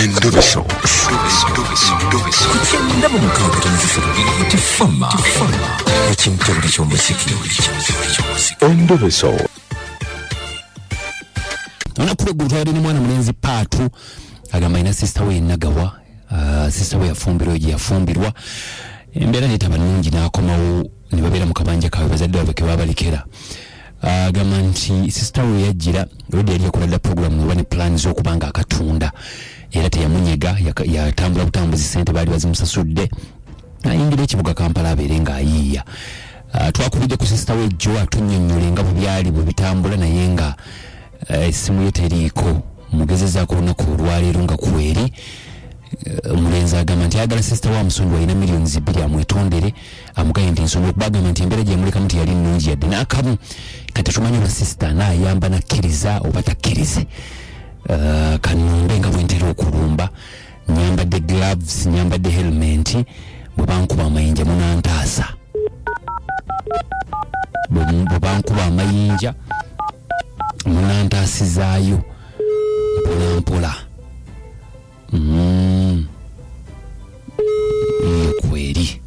Endubiso. Kukyenda mu mukaaga tonazisolo nti fama ekimutabuli ky'omuziki endubiso olunaku lweggulu twabadde ne mwana mulenzi paatu agamba alina sisita we yenagawa ah, sisita we yafumbirwa gye yafumbirwa embeera netaba nungi n'akomawo ne babeera mu kabanja kaabwe bazadde baabwe ke baabalekera agamba uh, nti sisita we yajjira olwedda yali yakola dda puroguramu oba ne pulaani z'okuba nga akatunda era teyamunyega yatambula butambuzi sente baali bazimusasudde ayingira ekibuga kampala abeere ng'ayiiya uh, twakubidde ku sisita we jjo atunyonnyole nga bwe byali bwe bitambula naye nga uh, essimu uh, ye teriiko mugezezaako olunaku olwaleero nga kweri uh, omulenzi agamba nti ayagala sisita wa musonyiwa alina miliyoni zibbiri amwetondere amuganye nti ensonga okubagamba nti embeera gyemulikamu teyali nnungi yadde n'akamu kati tumanyi oba sisita naayamba nakkiriza oba takkirize uh, kanumbe nga bwentera okulumba nyambadde gloves nyambadde helment bwe bankuba amayinja munantaasa bwe bankuba amayinja munantaasizaayo mpolampola mpola. Mm. Mm, kweri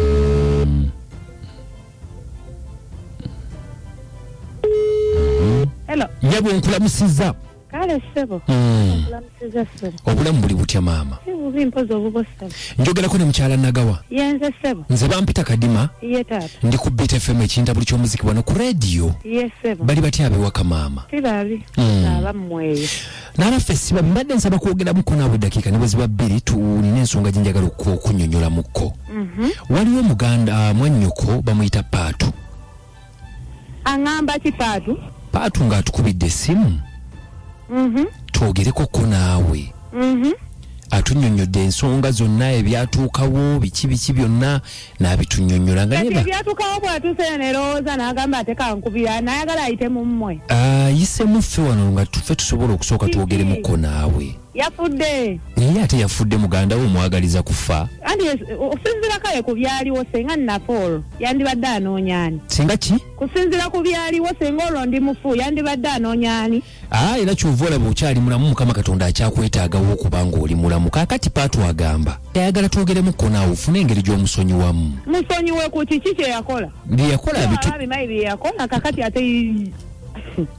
Mm. Hello. nyabo nkulamusiza Kale ssebo. Mm. obulamu buli butya maama njogerako ne mukyala nagawa nze bampita kadima ndi ku bit fm ekinta buli kyomuziki wano ku rediyo bali batya abewaka maama hmm. nabaffe siba mbadde nsaba kwogeramuko naabwe eddakiika ne bweziba bbiri tulina ensonga gye njagala okunyonyolamukko mhm. waliwo omuganda ah, mwannyoko bamuyita paatu aŋamba ki paatu paatu ng'atukubidde essimu mhm. twogereko ko naawe mhm. atunyonyodde ensonga zonna ebyatuukawo biki biki byonna n'abitunyonyola nga ebyatuukawo bwatuuse nerowooza n'agamba ate kankubira nayagala ayite mu mmwe ayise ah, muffe wano nga tufe tusobola okusooka twogeremu ko naawe yafudde naye ate yafudde muganda we omwagaliza kufa anti es- okusinziira kale ku byaliwo senga nafa olwo yandibadde anoonya ani singa ki kusinziira ku byaliwo senga olwo ndi mufu yandibadde anoonya ani aa era kyova olaba okyali mulamu mukama katonda akyakwetaagawo okuba ng'oli mulamu kaakati paatu agamba ayagala twogeremu konaawo ofune engeri gy'omusonyiwamu musonyiwe ku kiki kye yakola bye yakola abitu abimayi bye yakola kakati ate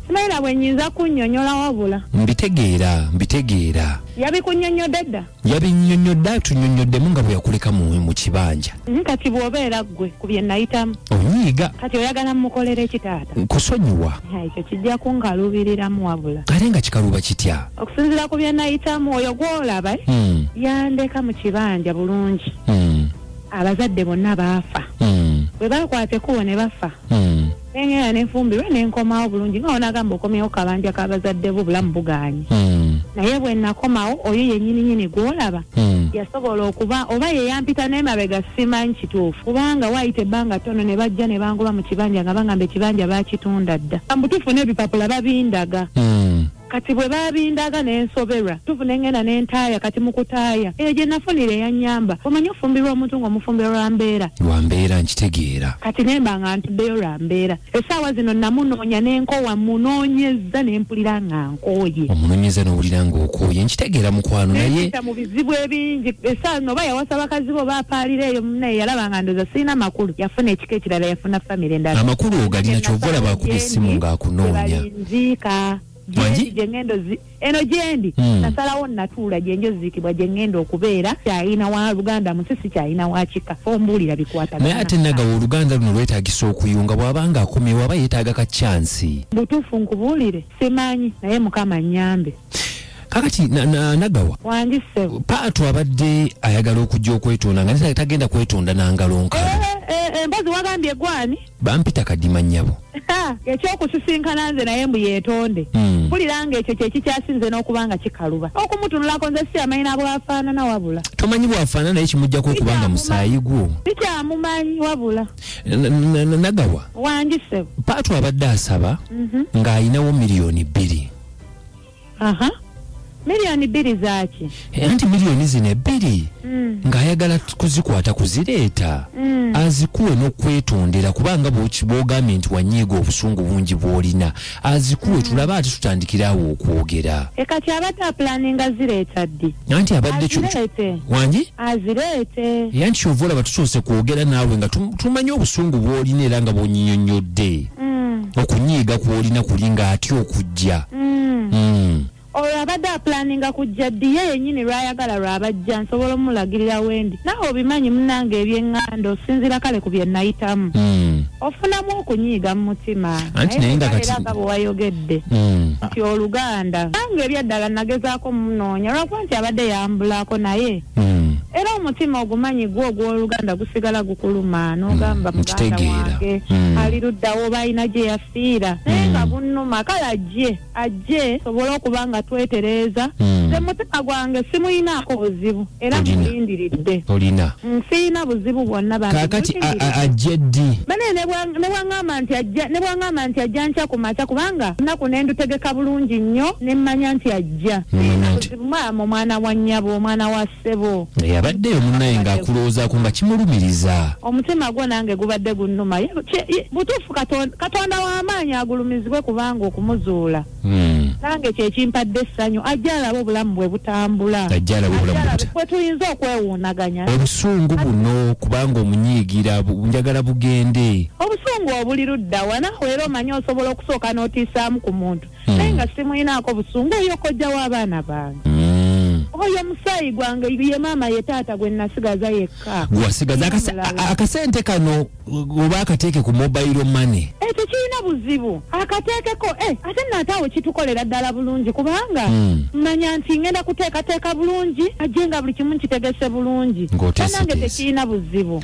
simanyi na bwe nyinza kunnyonnyola wabula mbitegeera mbitegeera yabikunnyonnyodde dda yabinnyonnyodde atunnyonnyoddemu nga bwe yakuleka mu mu kibanja Mhm, kati bw'obeera ggwe ku bye nayitamu onyiiga kati oyagala mmukolera eki taata kusonyiwa Ha, ekyo kijja kunkaluubiriramu wabula ate nga kikaluba kitya okusinziira ku bye nayitamu oyo gw'olaba eh, Mm, yandeka mu kibanja bulungi mm, abazadde bonna baafa mm, bwe baakwata ekkubo ne bafa mm. nengenda nefumbirwe nenkomawo bulungi nga onagamba okomyewo kabanja kabazadde bo bulamu buganye hmm. naye bwenakomawo oyo yenyininyini gwolaba hmm. yasobola okuba oba yeyampita nemabega simanyi kituufu kubanga wayita ebbanga tono ne bajja ne bangoba mu kibanja nga bangamba ekibanja bakitunda dda mbutufu n'ebipapula babindaga hmm. Kati bwe baabindaga ne nsoberwa tuvu ne ngenda ne ntaaya kati mu kutaaya eyo gye nafunira eyannyamba omanyi ofumbirwa omuntu ng'omufumbira lwa mbeera lwa mbeera nkitegeera kati ne mba nga ntuddeyo lwa mbeera essaawa zino namunoonya ne nkowa munoonyezza ne mpulira nga nkooye omunoonyeza n'owulira ng'okooye nkitegeera mukwano naye nempita mu bizibu ebingi essaawa zino oba yawasa bakazi bo baapaalira eyo munaye yalaba nga ndooza sirina makulu yafuna ekika ekirala yafuna famire endala amakulu ogalina kyova olaba akuba essimu ng'akunoonya ziika gyendi gye ŋŋenda ozi eno gyendi hmm. nasalawo natuula gye nja oziikibwa gye ŋŋenda okubeera kyayina wa luganda musi si kyayina wa kika ombuulira bikwata naye ate nagawa oluganda luno lwetagisa okuyunga bw'abanga akomyewo aba yeetaaga ka kyansi butuufu nkubuulire simanyi naye mukama nnyambe kakati nagawa paatu abadde ayagala okujja okwetonda nga tagenda kwetonda nangalo nkalu eh, eh, eh, embazi wagambye gwani bampita kadima nyabo ekyokusisinkana nze naye mbu yetonde hmm. mpulira nga ekyo kyekikyasinze n'okuba nga kikaluba okumutunulako nze si amanyi nabwafaanana wabula tomanyi bwafaanana naye kimujjako okuba nga musaayi gwo sikyamumanyi wabula nagawa wanjise paatu abadde asaba mhm. ng'alinawo miliyoni bbiri aha miliyoni bbiri zaaki Eh, anti miliyoni zino ebbiri Mm, ng'ayagala t- kuzikwata kuzireeta mm, azikuwe n'okwetondera kubanga bwoki- bw'ogambye nti wanyiiga obusungu bungi bw'olina azikuwe tulabe ate tutandikirawo okwogera e kati abadde apulaninga zireeta ddi anti abadde kyo- azireete wangi azireete era nti kyova olaba tusoose kwogera naawe nga tum- tumanyi obusungu bw'olina era nga bw'onyinyonnyodde mm. okunyiiga kwolina kuli nga atya okujja mm. mm. olwo abadde apulaninga kujja ddi ye yenyini lwayagala lwabajja nsobola omulagirira wendi nawe obimanyi munange ebyeŋŋanda osinzira kale ku bye nayitamu mm. ofunamu okunyiiga mu mutima nayeaga bwewayogedde mm. nti oluganda nange ebyaddala nagezaako munoonya lwakuba nti abadde yambulako naye Mm. era omutima ogumanyi gwo ogw'oluganda gusigala gukuluma n'ogamba Mm, muganda nkitegeera. wange Mm. ali luddawo oba alina gye yafiira naye Mm. nga bunnuma kale ajje ajje sobole okuba nga twetereeza Mm. nze mutima gwange simuyinaako buzibu era Olina. mulindiridde olina Mm, siyina buzibu bwonna bambi, kaakati a- mulindiridde. a- ajje ddi bane nebwangamba nti ajja nebwangamba nti ajja nkya kumakya kubanga nnaku nendutegeka bulungi nnyo nemmanya nti ajja Nomanya nti maama omwana wa nnyabo omwana wa ssebo naye abaddeyo munnaye ng'akulowoozaako nga kimulumiriza omutima gwo nange gubadde gunnuma Ye- kye- ye- butuufu Katon- katonda w'amaanyi agulumizibwe kubanga okumuzuula Hmm. nange kyekimpadde essanyu ajja alaba obulamu bwe butambula Ajja alabe obulamu bwe buta- bwe tuyinza okwewuunaganya obusungu buno kubanga omunyiigira bu- njagala bugende obusungu obuli luddawa nawe era omanyi osobola okusooka n'otiisaamu ku muntu Hmm. naye nga simulinaako busungu oyo kojja w'abaana bange Mm. oyo musaayi gwange ye maama ye taata gwe nasigaza yekka gwasigaza akase- Omulala. a- akasente kano oba akateeke ku mobile money Eh, tekirina buzibu akateekeko eh, ate naate awo kitukolera ddala bulungi kubanga Mm. manya nti ngenda kuteekateeka bulungi ajje nga buli kimu nkitegese bulungi Ng'oteeseteese. nange tekirina buzibu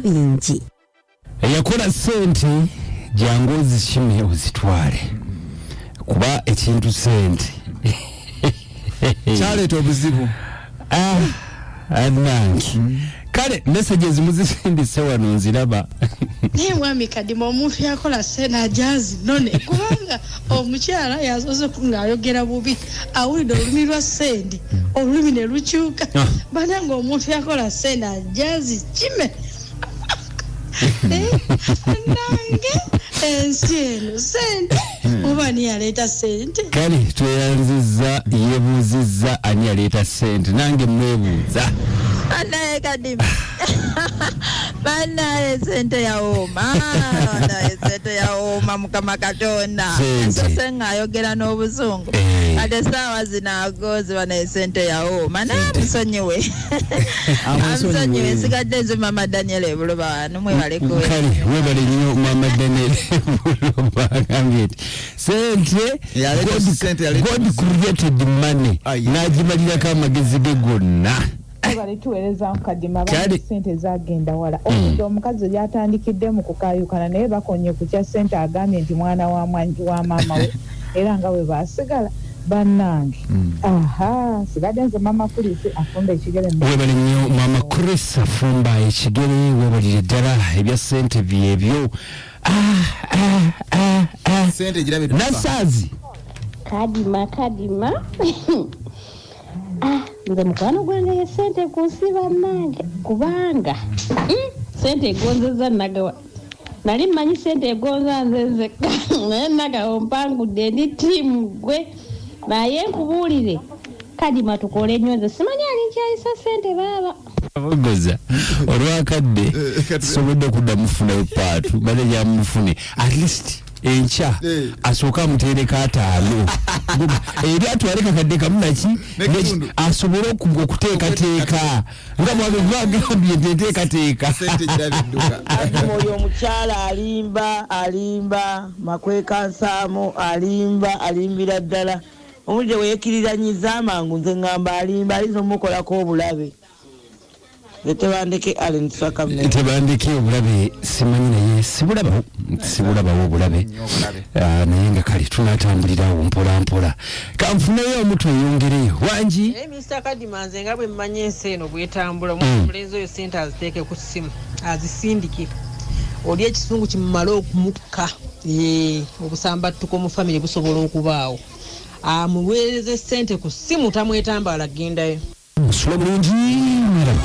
bingi eyakola sente jangu ozikime ozitwale kuba ekintu sente kyaleeta obuzibu ah, anange mm. kale meseje ezimu zisindise wano nziraba naye mwami kadima omuntu yakola sente ajazi none kubanga omukyala yasoose ng'ayogera bubi awulidde olulimi lwa sendi olulimi ne lukyuka ah. bana ng'omuntu yakola sendi ajazi kime eh, nange ensi eno sente hmm. oba ani yaleeta sente kale tweyanziza yebuuzizza ani yaleeta sente nange mwebuuza anaye kadimu banaye sente yawooma banaye sente yawooma mukama katonda nsose ng'ayogera n'obuzungu eh. ate esaawa zino agoozi banaye sente yawooma naye amusonyiwe amusonyiwe esigadde ezo mama daniel ebuloba wano mwebalekale webale nnyo mama daniel ebuloba agambye nti sente god created money n'agimalirako amagezi ge gonna webale tuweereza nkadima abana sente zagenda wala hmm. omuze omukazi yatandikidde mu kukayukana naye bakonye ku kya sente agambye nti mwana wa maama we era nga we basigala bannange hmm. aha sigadde nze maama chris afumba ekigere webale nnyo maama chris afumba ekigere webalire ddala ebya sente byebyo ah, ah, ah, nasaazi kadima kadima Ah, nze mukwano gwange ye sente kunsi bannange kubanga mm, sente egonzeza nagawa nali mmanyi sente egonza nze nzekka naye nagawa mpangudde ndi tiimu gwe naye nkubuulire kadima tukole nnyo nze simanyi ali nkyayisa sente baaba Mbogoza olwakadde eh, sisobodde okudda mufunayo paatu bane gyamufune at least enkya eh. asooke amuteereka ataano eri atwale kakadde kamu naki asobole okuteekateeka nga mwabegwagambye nti enteekateeka oyo omukyala alimba alimba makweka nsaamu alimba alimbira ddala Omuntu gye weekiriranyiza amangu nze ngamba alimba ayinza omukolako obulabe. Nze tebandeke Allen Tusaka Mmengo. Tebandeke obulabe simanyi naye sibulabawo sibulabawo obulabe ah, naye nga kale tunatambulira awo mpola mpola kanfuneyo omutu eyongereyo wangi naye minisita kadima nze nga bwe mmanyi ensi eno bwetambula omwana mm. omulenzi oyo sente aziteeke ku ssimu azisindike oli ekisungu kimumale Ka, yee, obusambattuko mu famire busobola okubaawo. Amuweereze ssente ku ssimu tamwetambaala ggendayo. Musula bulungi miraba.